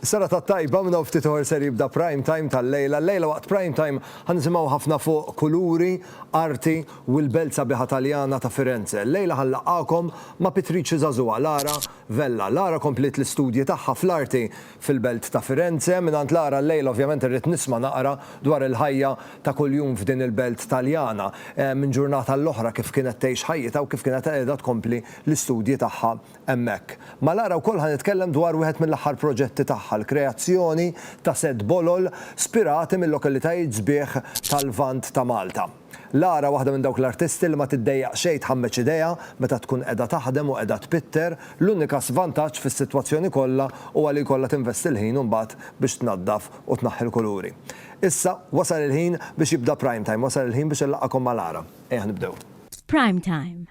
Serata tajba, minn hawn ftit oħor ser jibda Prime Time tal-lejla. Llejla waqt Prime Time ħa nisimgħu ħafna fuq kuluri, arti u l-belt sabiħa Taljana ta' Firenze. Llejla ħa nlaqqagħkom ma' pittriċi żagħżugħa Lara Vella. Lara kompliet l-istudji tagħha fl-arti fil-belt ta' Firenze. Mingħand Lara llejla ovvjament irrid nisma' naqra dwar il-ħajja ta' kuljum f'din il-belt Taljana. Minn ġurnata għall-oħra kif kienet tgħix ħajjitha u kif kienet qiegħda tkompli l-istudji tagħha hemmhekk. Ma' Lara wkoll ħa nitkellem dwar wieħed mill-aħħar proġetti tagħha, l-kreazzjoni ta' sett bolol spirati mil-lokalitajiet sbieħ tal-Lvant ta' Malta. Lara waħda minn dawk l-artisti li ma tiddejjaq xejn tħammeġ idejha meta tkun qiegħda taħdem u qiegħda tpitter, l-unika svantaġġ fis-sitwazzjoni kollha huwa li jkollha tinvesti l-ħin imbagħad biex tnaddaf u tnaħħi l-kuluri. Issa wasal il-ħin biex jibda Prime Time, wasal il-ħin biex inlaqqagħkom ma' Lara. Ejja nibdew. F'Prime Time,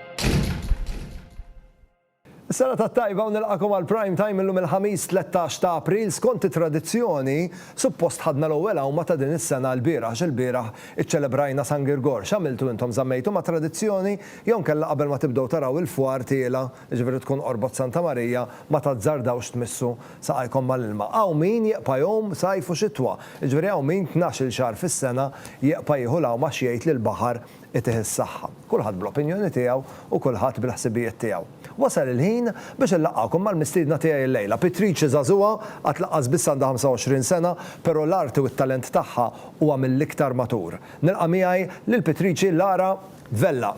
Is-sena tat-tajba u nilqakom għal Prime Time illum il-Ħamis 13 ta' April. Skont it-tradizzjoni, suppost ħadna l-ewwel għawma ta' din is-sena lbieraħ għax ilbieraħ iċċelebrajna San Girgor. X'għamiltu intom żammejtu mat-tradizzjoni jew inkella qabel ma tibdew taraw il-fwar tiela', jiġifieri tkun qorbot Santa Marija, ma tazzardawx tmissu saqajkom mal-ilma. Hawn min jeqpa' jgħum sajf u xitwa, jiġifieri hawn min tnax-il xahar fis-sena jeqpa' jieħu l-għawma għax jgħid li l-baħar Itih is-saħħa. Kulħadd bl-opinjoni tiegħu u kulħadd bil-ħsibijiet tiegħu. Wasal il-ħin biex inlaqqgħukom mal-mistiedna tiegħi illejla. Pitrice żagħżugħa, għad laqqas biss għandha 25 sena, però l-arti u t-talent tagħha huwa mill-iktar matur. Nilqa' miegħi lil Pitrice Lara Vella.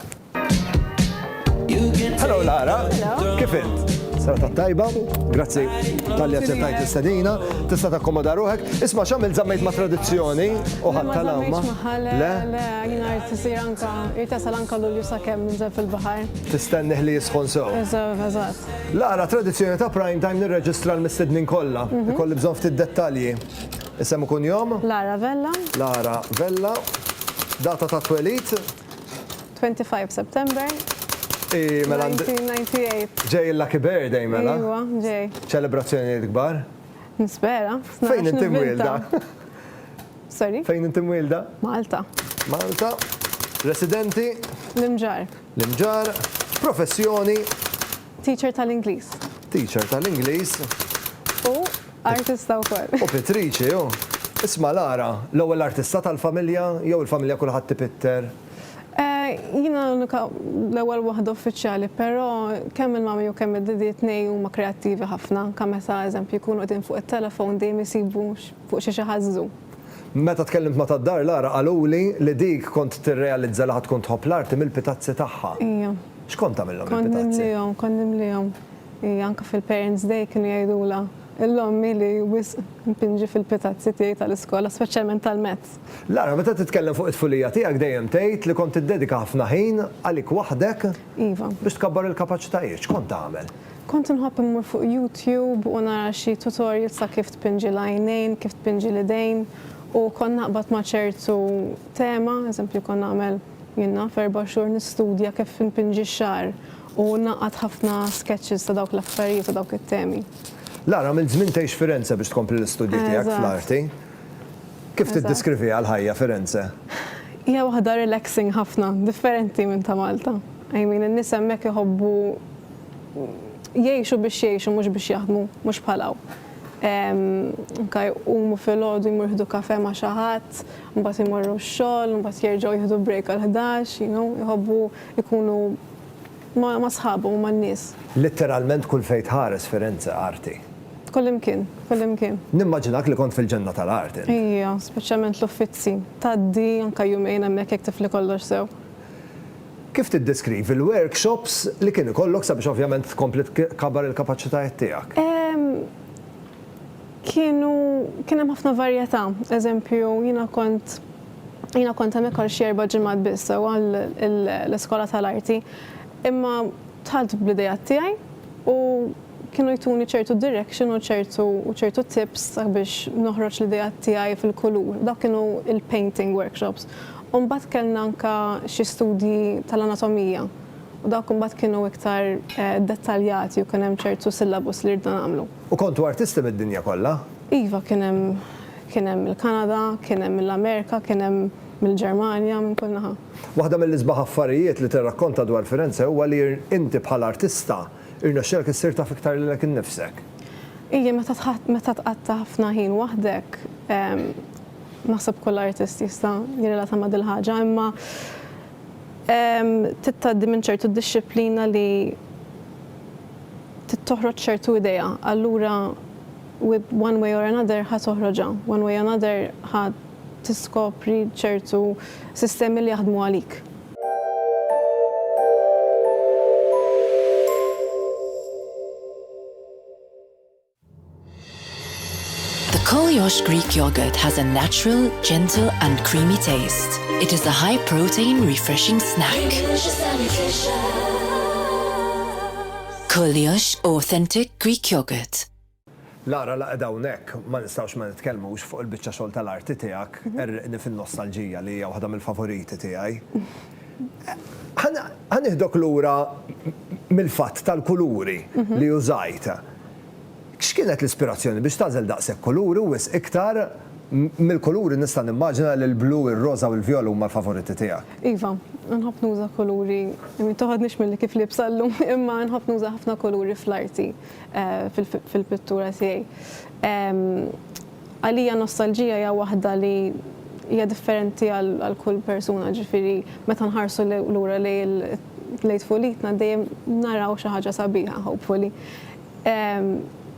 Hello Lara, kif int? Serata tajba, grazzi tal-li għaċċettajt istadina, tista' takkomoda ruħek. Isma' xamil zammejt ma' tradizzjoni u ħadd tal-awma. Le, le, jina tisir anka, irtasal anka l-ulju sa' kemm nżel fil-bahar. Tistennih li jisħon sew. Eżatt, eżatt. Lara, tradizzjoni ta' prime time nirreġistra l-mistednin kollha. Mhm. Ikolli bżonn ftit dettalji. Isem ikun jom? Lara Vella. Lara Vella. Data ta' twelit? 25 September. I mela. 1998. Ġej il-Lucky Birthday mela. Iwa, ġej. Ċelebrazzjonijiet kbar. Nispera. Fejn inti mwilda? Sorry? Fejn inti mwilda? Malta. Malta. Residenti? L-imġar. L-imġar. Professjoni? Teacher tal-Ingliż. Teacher tal-Ingliż. U artista wkoll. U pittriċi, u. Isma' Lara, l-ewwel artista tal-familja jew il-familja kulħadd ipitter? Jiena l-unika l-ewwel waħda uffiċjali, però kemm il-mummy u kemm id-daddy t-tnejn huma kreattivi ħafna, anke meta eżempju jkunu qegħdin fuq it-telefon dejjem isibu fuq xiex iħażżu. Meta tkellimt ma' tad-dar Lara qaluli li dik kont tirrealizza li ħa tkun tħobb l-arti mill-pitazzi tagħha. Ija. X'kont tagħmilhom il-pitazzi? Kont nimlihom, kont nimlihom. Hi anke fil-Parents Day kienu jgħidulha l-ommi li wisq npinġi fil-pitazzi tiegħi tal-iskola, speċjalment tal-Mezz. Lara, meta titkellem fuq it-tfulija tiegħek dejjem tgħid li kont tiddedika ħafna ħin għalik waħdek Iva. biex tkabbar il-kapaċitajiet. X'kont tagħmel? Kont inħobb immur fuq YouTube u nara xi tutorials ta' kif tpinġi l-għajnejn, kif tpinġi l-idejn u kont naqbad ma' ċertu tema, eżempju kont nagħmel Jien naf erba' xhur nistudja kif inpinġi x-xagħar u ngħaqqad ħafna sketches ta' dawk l-affarijiet u dawk it-temi. Lara, għamilt żmien tgħix Firenze biex tkompli l-istudji tiegħek fl-arti. Kif tiddiskriviha l-ħajja Firenze? Hija waħda relaxing ħafna, differenti minn ta' Malta. I mean, in-nies hemmhekk iħobbu jgħixu biex jgħixu mhux biex jaħdmu, mhux bħal hawn. Anke jqumu filgħodu jmorru jieħdu kafè ma' xi ħadd, Mbagħad imorru x-xogħol, mbagħad jerġgħu jieħdu break għal ħdax, you know, jħobbu jkunu ma' ma' sħabhom u man-nies. Litteralment kull fejn tħares Firenze arti. Kullimkien, kullimkien. Nimmaġinak li kont fil-ġenna tal-art int. Ija, speċjalment l-uffizzi. Tgħaddi anke jumejn hemmhekk jekk tifli kollox sew. Kif tiddeskrivi l-workshops li kien ikollok sabiex ovvjament tkompli tkabbar il-kapaċitajiet tiegħek? Ehm, Kienu kien hemm ħafna varjetà. Eżempju, jiena kont jiena kont hemmhekk għal xi erba' ġimgħat biss sewwa l-iskola tal-arti. Imma dħalt bl-ideat tiegħi u kienu jtuni ċertu direction u ċertu u ċertu tips sabiex noħroġ l-ideat tiegħi fil-kulur. Dawk kienu l-painting workshops. U mbagħad kellna anke xi studji tal-anatomija. U dawk imbagħad kienu iktar dettaljati u kien hemm ċertu syllabus li ridna nagħmlu. U kontu artisti mid-dinja kollha? Iva, kien hemm kien hemm mill-Kanada, kien hemm mill-Amerika, kien hemm mill-Ġermanja, minn kull naħa. Waħda mill-isbaħ affarijiet li tirrakkonta dwar Firenze huwa li inti bħala artista rnexxielek issir taf iktar lilek innifsek. Ija, meta meta tqatta' ħafna ħin waħdek, naħseb kull artist jista' jirrelata ma' dil-ħaġa, imma Trid tgħaddi minn ċertu dixxiplina li trid toħroġ ċertu idea, allura one way or another ħa toħroġha, one way another ħa tiskopri ċertu sistemi li jaħdmu għalik. The Kolyosh Greek yogurt has a natural, gentle and creamy taste. It is a high protein refreshing snack. Kolyosh authentic Greek yogurt. Lara la qiegħda hawnhekk, ma nistgħux ma nitkellmux fuq il-biċċa xogħol tal-arti tiegħek, Gherriqni fin-nostalġija li hija waħda mill-favoriti tiegħi. Ħa nieħdok lura mill-fatt tal-kuluri li użajt. X'kienet l-ispirazzjoni biex tagħżel daqshekk kuluri u wisq iktar mill-kuluri nista' nimmaġina li l-blu, ir-roża u l-vjola huma l-favoriti tiegħek? Iva, nħobb nuża kuluri, ma toħodnix milli kif liebsa llum, imma nħobb nuża ħafna kuluri fl-arti, fil-pittura tiegħi. Għalija nostalġija hija waħda li hija differenti għal kull persuna, jiġifieri meta nħarsu lura lejn tfulitna dejjem naraw xi ħaġa sabiħa hopefully.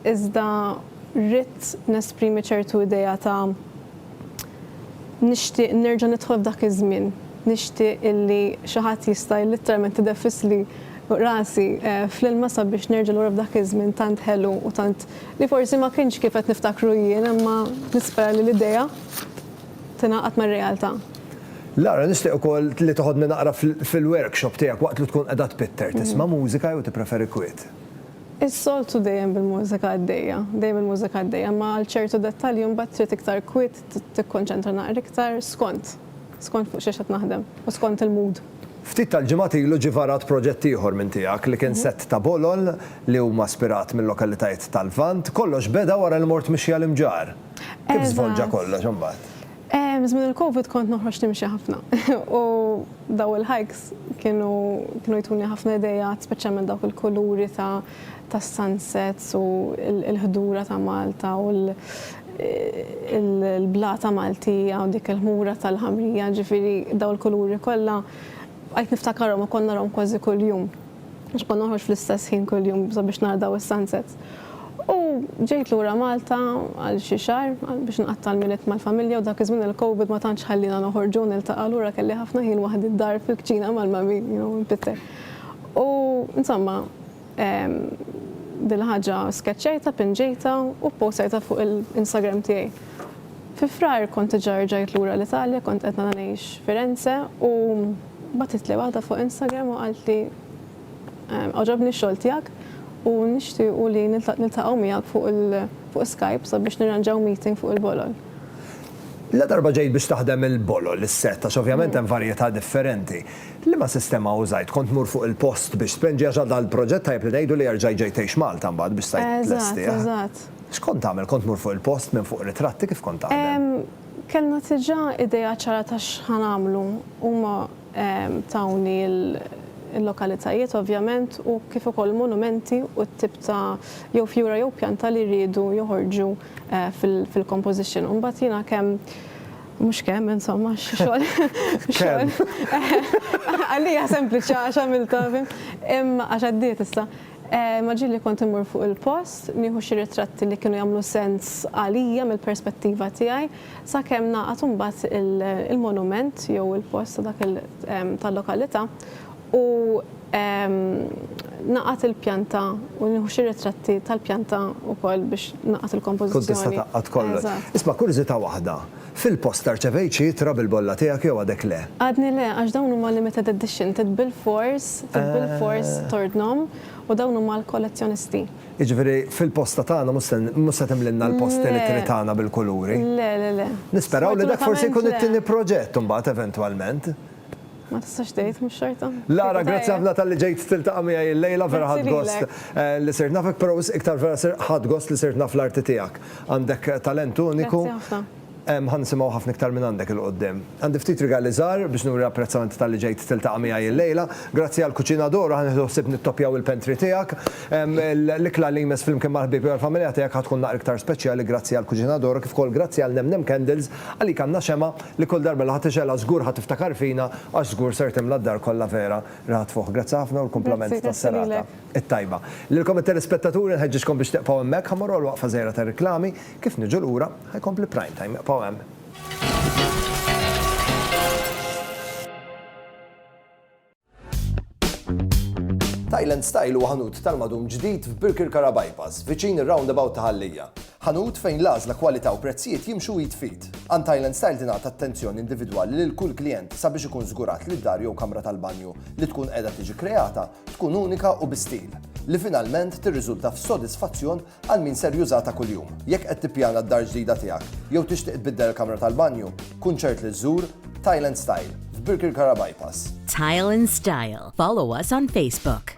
Iżda ridt nesprimi ċertu idea ta' nixtieq nerġa' nidħol f'dak iż-żmien, nixtieq illi xi ħadd jista' litteralment ideffisli rasi fl-ilma sabiex nerġa' lura f'dak iż-żmien tant ħelu u tant Li forsi ma kienx kif qed niftakru jien imma nispera li l-idea tingħaqad mar-realtà. Lara, nixtieq ukoll li toħodni naqra fil-workshop tiegħek waqt li tkun qiegħda tpitter. Tisma' mużika jew tippreferi kwiet? Is-soltu dejjem bil-mużika għaddejja, dejjem il-mużika għaddejja, imma għal ċertu dettalji mbagħad trid iktar kwiet, tikkonċentra naqra iktar, skont. Skont fuq xiex qed naħdem u skont il-mood. Ftit tal-ġimgħat ilu ġie varat proġett ieħor minn tiegħek li kien sett ta' bolol li huma spirat mil-lokalitajiet tal-Lvant. Kollox beda wara li mort mixja l-Imġarr. Kif żvolġa kollox imbagħad? Eżatt. Żmien il-Covid kont noħroġ nimxi ħafna u daw il-hikes kienu jtuni ħafna ideat speċjalment dawk il-kuluri ta' tas-sunsets u l-ħdura ta' Malta u l-blata Maltija u dik il-ħmura tal-ħamrija, ġifieri dawn il-kuluri kollha bqajt niftakarhom u kont narahom kważi kuljum. Għax kont noħroġ fl-istess ħin kuljum sabiex nara dawn is-sunsets. U ġejt lura Malta għal xi xahar biex nqatta' l-Milied mal-familja u dak iż-żmien il-Covid ma tantx ħalliena noħorġu u niltaqgħu allura kelli ħafna ħin waħdi d-dar fil-kċina mal-mummy, you know, npitter. U insomma, Din il-ħaġa skeċċajtha, pinġejtha u ppostajtha fuq il-Instagram tiegħi. Fi Frar kont diġà rġajt lura l-Italja, kont qed ngħix Firenze u bagħtitli waħda fuq Instagram u qaltli, Għoġobni x-xogħol tiegħek u nixtiequ li niltaqgħu miegħek fuq Skype sabiex nirranġaw meeting fuq il-bolol. Ladarba ġejt biex taħdem il-bolol, is-settax, ovvjament hemm varjetà differenti. Liema sistema użajt? Kont tmur fuq il-post biex tpend xi ħaġa dal-proġett tajjeb li ngħidu li erġa' ġejt tgħix Malta mbagħad biex stajt tlestih. Eżatt, eżatt. X'kont tagħmel? Kont tmur fuq il-post minn fuq ritratti kif kont taħdem? Kellna diġà idea ċara ta' x'ħa nagħmlu. Huma tawni l-lokalitajiet ovvjament u kif ukoll il-monumenti u t-tip ta' jew fjura jew pjanta li riedu joħorġu fil-composition. U mbagħad jiena kemm Mhux kemm, insomma, xogħol. Kemm? Għalija sempliċi għax għamilta, imma għax għaddiet issa. Eh, ma ġilli kont imur fuq il-post, nieħu xi ritratti li kienu jagħmlu sens għalija mill-perspettiva tiegħi, sakemm naqgħad imbagħad il-monument jew il-post dak tal-lokalità u naqgħad il-pjanta u nieħu xi ritratti tal-pjanta wkoll biex naqgħad il-kompożizzjoni. Tkun tista' tgħaqqad kollox. Isma' kurżità waħda, fil-posta rċevejt xi ittra bil-bolla tiegħek jew għadek le? Għadni le, għax dawn huma limited edition, trid bilfors, trid bilfors tordnhom u dawn huma għall-kollezzjonisti. Jiġifieri fil-posta tagħna mhux se mhux se timlilna l-post tal-ittri tagħna bil-kuluri? Le, le, le. Nisperaw li dak forsi jkun it-tieni proġett imbagħad eventwalment. Ma tistax tgħid mhux xorta. Lara, grazzi ħafna tal-li ġejt tiltaqa' miegħi l-lejla, vera ħadd gost eh, li sirt nafek, però wis iktar vera sir ħadd gost li sirt naf l-arti tiegħek. Għandek talent uniku. Ħan nisimgħu ħafna iktar minn għandek il qudiem Għandi ftit rigali żgħar biex nuri apprezzament tal-li ġejt tiltaqa' miegħi l-lejla. Grazzi għal kuċina doru ħan nieħdu ħsieb nittopjaw il-pentri tiegħek. L-ikla li jmess flimkien mal-ħbieb u l-familja tiegħek ħad tkun naqra iktar speċjali grazzi għal kuċina doru kif ukoll grazzi għal Nem Nem Candles għalik għandna xema Li kull darba li ħa tiġela żgur ħa tiftakar fina għax żgur ser timla d-dar kollha vera riħa tfuħ. Grazzi ħafna u l-kumplament tas-serata t-tajba. Lilkom it-telespettaturi nħeġġiġkom biex tibqgħu hemmhekk ħa mmorru għal waqfa żgħira tar-riklami, kif niġu lura ħa jkompli Prime Time. Ibqgħu hemm. Thailand Style huwa ħanut tal-madum ġdid f'Birkirkara Bypass, viċin ir-roundabout ta' Ħallija. Ħanut fejn l-għażla kwalità u prezzijiet jimxu id fid. Għand Thailand Style tingħata attenzjoni individwali lil kull klijent sabiex ikun żgurat li d-dar jew kamra tal-banju li tkun qiegħda tiġi kreata tkun unika u bi stil, li finalment tirriżulta f'sodisfazzjon Għal min ser jużha ta' kuljum. Jekk qed tippjana d-dar ġdida tiegħek jew tixtieq tbiddel il-kamra tal-banju, kun ċert li żżur Tile and Style f'Birkirkara Bypass. Tile and Style. Follow us on Facebook.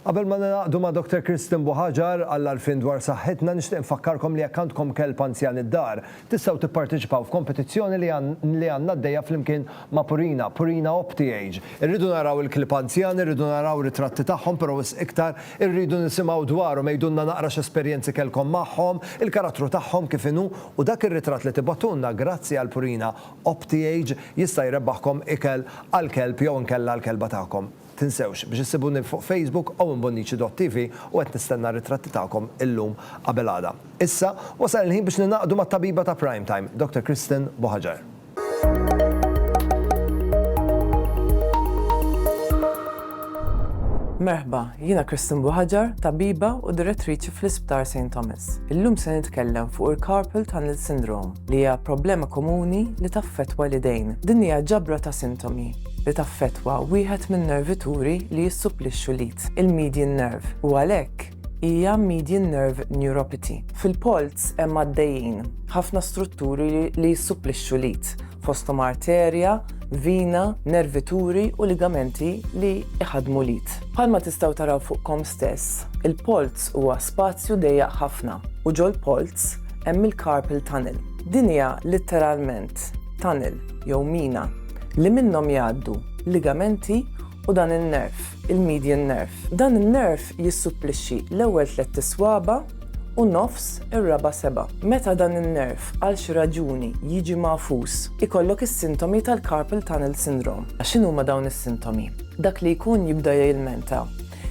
Qabel ma ningħaqdu ma' Doktor Kristen Buħaġar għall-għarfien dwar saħħitna nixtieq nfakkarkom li jekk għandkom kelb anzjan id-dar, tistgħu tipparteċipaw f'kompetizzjoni li li għandna għaddejja flimkien ma' Purina, Purina OptiAge. Irridu naraw il-klieb anzjani, irridu naraw ritratti tagħhom però wisq iktar irridu nisimgħu dwarhom, għidulna naqra x'esperjenzi kellkom magħhom, il-karattru tagħhom kif inhu u dak ir-ritratt li tibgħatulna grazzi għal Purina Optjage jista' jrebbaħkom ikel għall-kelb jew inkella għall-kelba tagħkom. Tinsewx biex issibuni fuq Facebook owenbonnici.tv u qed nistenna r-ritratti tagħkom illum qabel għada. Issa, wasal il-ħin biex ningħaqdu mat-tabiba ta' Prime Time, Doctor Kristen Buhagiar. Merħba, jiena Christine Buhaġar, tabiba u direttriċi fl-Isptar Saint Thomas. Illum se nitkellem fuq il-carpal tunnel syndrome, li hija problema komuni li taffettwa l-idejn. Din hija ġabra ta' sintomi li taffettwa wieħed min-nervituri li jissupplixxu l-id, il-median nerve, u għalhekk hija median nerve neuropathy. Fil-polz hemm għaddejjin ħafna strutturi li jissupplixxu l-id. fosthom arterja, vina, nervituri u ligamenti li jħaddmu l-id. Bħalma tistgħu taraw fuqkom stess, il-polz huwa spazju dejjaq ħafna u ġol-polz hemm il-carpal tunnel. Din hija litteralment tunnel jew mina li minnhom jgħaddu ligamenti u dan in-nerv. il-median nerve. Dan in-nerv jissupplixxi l-ewwel tlett iswaba' u nofs ir-raba' seba'. Meta dan in-nerv għal xi raġuni jiġi magħfus, ikollok is-sintomi tal-carpal tunnel syndrome. X'inhuma dawn is-sintomi? Dak li jkun jibda jilmenta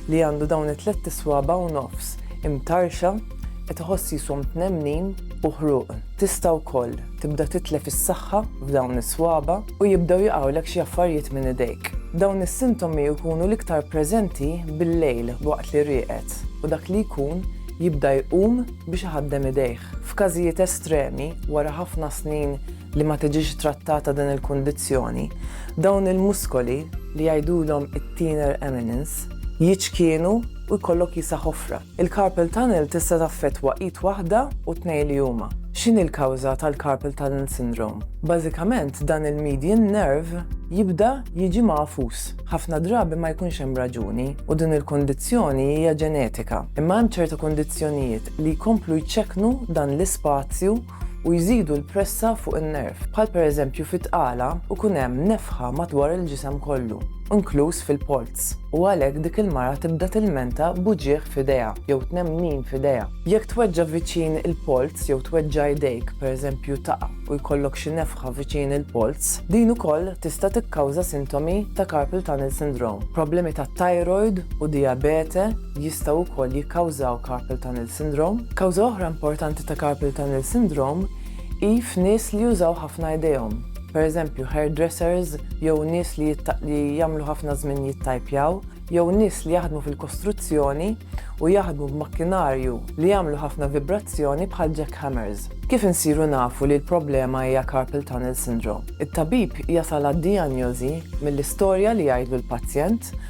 li għandu dawn it-tlett iswaba' u nofs imtarrxa, qed iħoss jishom tnemnin u ħruq. Tista' wkoll. Tibda titlef is-saħħa f'dawn is-swaba' u jibdew jaqgħulek xi affarijiet minn idejk. Dawn is-sintomi jkunu l-iktar preżenti bil-lejl waqt li rieqed u dak li jkun jibda jqum biex iħaddem idejh. F'każijiet estremi, wara ħafna snin li ma tiġix trattata din il-kundizzjoni, dawn il-muskoli, li jgħidulhom it-thenar eminence, jiċkienu u jkollok jisa' ħofra. Il-carpal tunnel tista' taffettwa id waħda u t-tnejn li huma. X'inhi l-kawża tal-carpal tunnel syndrome? Bażikament dan il-median nerve jibda jiġi magħfus. Ħafna drabi ma jkunx hemm raġuni u din il-kundizzjoni hija ġenetika. Imma hemm ċerta kundizzjonijiet li jkomplu jċekknu dan l-ispazju u jżidu l-pressa fuq in-nerv, bħal pereżempju fit-tqala u jkun hemm nefħa madwar il-ġisem kollu, inkluż fil-polz, u għalhekk dik il-mara tibda tilmenta b'uġigħ f'idejha jew tnemnin f'idejha. Jekk tweġġa' viċin il-polz jew tweġġa' idejk, pereżempju taqa' u jkollok xi nefħa viċin il-polz, din ukoll tista' tikkawża sintomi ta' carpal tunnel syndrome, problemi tat-thyroid u dijabete, jistgħu wkoll jikkawżaw carpal tunnel syndrome. Kawża oħra importanti ta' carpal tunnel syndrome hi f'nies li jużaw ħafna idejhom, pereżempju hairdressers jew nies li li jagħmlu ħafna żmien jittajpjaw, jew nies li jaħdmu fil-kostruzzjoni u jaħdmu b'makkinarju li jagħmlu ħafna vibrazzjoni bħal jackhammers. Kif insiru nafu li l-problema hija carpal tunnel syndrome? It-tabib jasal għad-dijanjożi mill-istorja li jgħidlu l-pazjent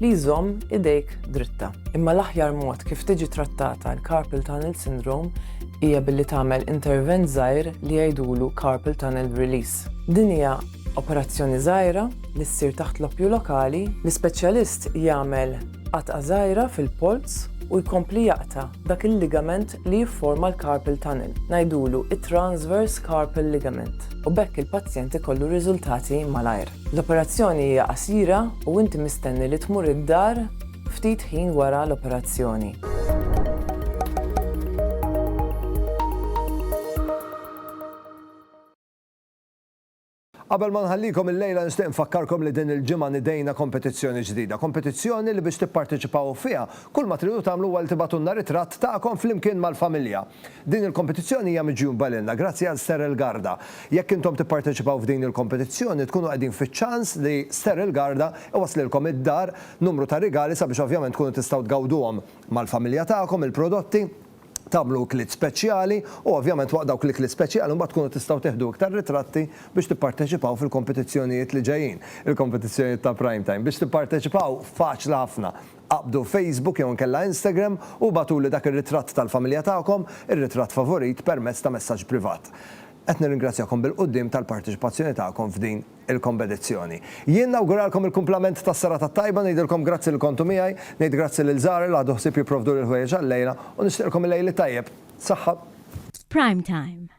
li jżomm idejk dritta. Imma l-aħjar mod kif tiġi trattata l-carpal tunnel syndrome hija billi tagħmel intervent żgħir li jgħidulu carpal tunnel release. Din hija operazzjoni żgħira li ssir taħt l-oppju lokali, l-ispeċjalist jagħmel qatgħa żgħira fil-polz u jkompli jaqta' dak il-ligament li jifforma l-carpal tunnel, ngħidulu t-transverse carpal ligament, u b'hekk il-pazjent ikollu riżultati malajr. L-operazzjoni hija qasira u inti mistenni li tmur id-dar ftit ħin wara l-operazzjoni. Qabel ma nħallikom illejla nixtieq nfakkarkom li din il-ġimgħa nidejna kompetizzjoni ġdida. Kompetizzjoni li biex tipparteċipaw fiha, kull ma tridu tagħmlu huwa li tibgħatulna ritratt tagħkom flimkien mal-familja. Din il-kompetizzjoni hija miġjuba lilna grazzi għal Sterel Garda. Jekk intom tipparteċipaw f'din il-kompetizzjoni tkunu qegħdin fiċ-ċans li Ster il-Garda iwasslilkom id-dar numru ta' rigali sabiex ovvjament tkunu tistgħu tgawduhom mal-familja tagħkom il-prodotti, tagħmlu ikliet speċjali u ovvjament waqt dawk l-ikliet speċjali mbagħad tkunu tistgħu tiħdu iktar ritratti biex tipparteċipaw fil-kompetizzjonijiet li ġejjin, il-kompetizzjonijiet ta' Prime Time. Biex tipparteċipaw faċli ħafna. Qabdu Facebook jew inkella Instagram u ibgħatuli dak ir-ritratt tal-familja tagħkom, ir-ritratt favorit, permezz ta' messaġġ privat. Qed nirringrazzjakom bil-quddiem tal-parteċipazzjoni tagħkom f'din il-kompetizzjoni. Jien nawguralkom il-kumplament tas-serata t-tajba, ngħidilkom grazzi li kontu miegħi, ngħid grazzi lil żgħari li ħadu ħsieb jipprovduli l-ħwejjeġ għal-lejla u nixtieqlkom il-lejl it-tajjeb. Saħħa. F'Prime Time.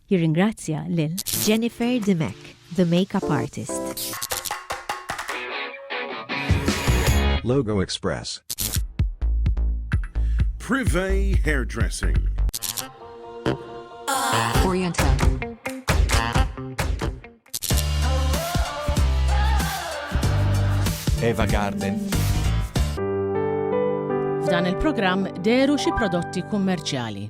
Jirringrazzja lil. Jennifer Dimech, the makeup artist. Logo Express. Privé Hairdressing. Oriental. Eva Garden. F'dan il-programm deru xi prodotti kummerċjali.